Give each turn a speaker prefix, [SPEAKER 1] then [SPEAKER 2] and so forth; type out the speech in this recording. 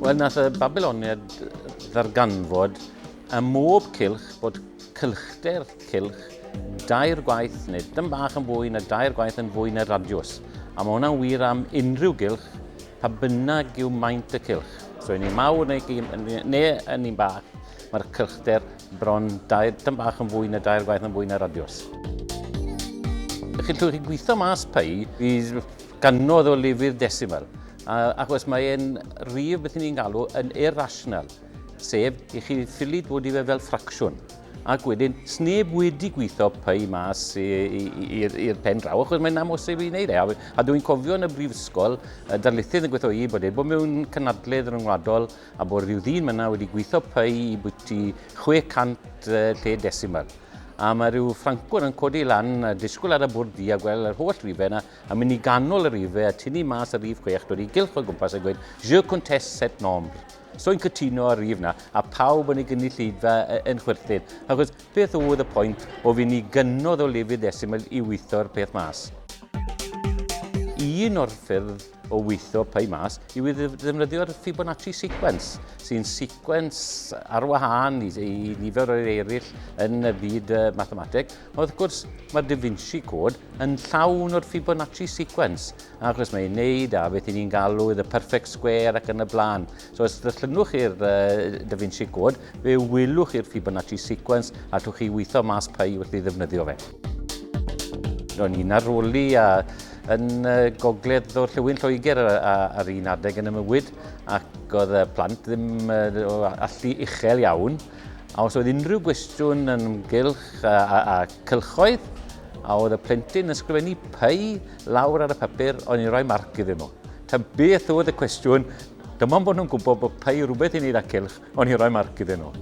[SPEAKER 1] Wel, nath y Babyloniad ddarganfod ym mhob cylch bod cylchder cylch dair gwaith neu dym bach yn fwy na dair gwaith yn fwy na radiws. A mae hwnna'n wir am unrhyw gylch, pa bynnag yw maint y cylch. So yn un mawr neu un, neu yn un bach, mae'r cylchder bron dair, dym bach yn fwy na dair gwaith yn fwy na radiws. Chi'n llwyr chi gweithio mas pei, Gannoedd o lefydd desiml, ac os mae e'n rif beth ni'n galw yn irrational, sef i chi ffili dod i fe fel ffracsiwn, ac wedyn sneb wedi gweithio py mas i'r pen draw, achos mae'n amhosib i wneud e. A, a dwi'n cofio yn y brifysgol, y darlithydd yn gweithio i bod wedi bod mewn cynadledd ryngwladol a bod rhyw ddyn fyna wedi gweithio py i bwyty 600 lle desiml a mae rhyw ffrancwr yn codi lan a disgwyl ar y bwrdd di a gweld yr holl rifau yna Yn mynd i ganol y rif fe a tynnu mas y rif chwech, dod i gylch o gwmpas a gweud Je conteste cette nombre. So yn cytuno â'r rif na, a pawb yn y gynulleidfa yn chwyrthin. Achos beth oedd y pwynt o fynd i gynnodd o lefydd ddesimol i weitho'r peth mas? Un o'r ffyrdd o weithio pwy mas yw i ddefnyddio'r Fibonacci sequence, sy'n sequence ar wahân i, i nifer o'r eraill yn y byd uh, mathemateg, Wrth gwrs, mae'r Da Vinci Code yn llawn o'r Fibonacci sequence, achos mae'n wneud a beth ni'n galw the perfect square ac yn y blaen. So os ddyllynwch chi'r uh, Da Vinci Code, fe wylwch chi'r Fibonacci sequence a llwch chi weithio mas pa i wrth i ddefnyddio fe. Ro'n i'n aroli a yn gogledd o'r llywyn Lloegr ar un adeg yn y mywyd ac oedd y plant ddim allu uchel iawn A os oedd unrhyw gwestiwn yn ymgylch a, a, a cylchoedd, a oedd y plentyn yn sgrifennu pei lawr ar y papur, o'n i'n rhoi marc iddyn nhw. Ta beth oedd y cwestiwn, dim ond bod nhw'n gwybod bod pei rhywbeth i wneud â cylch, o'n i'n rhoi marc iddyn nhw.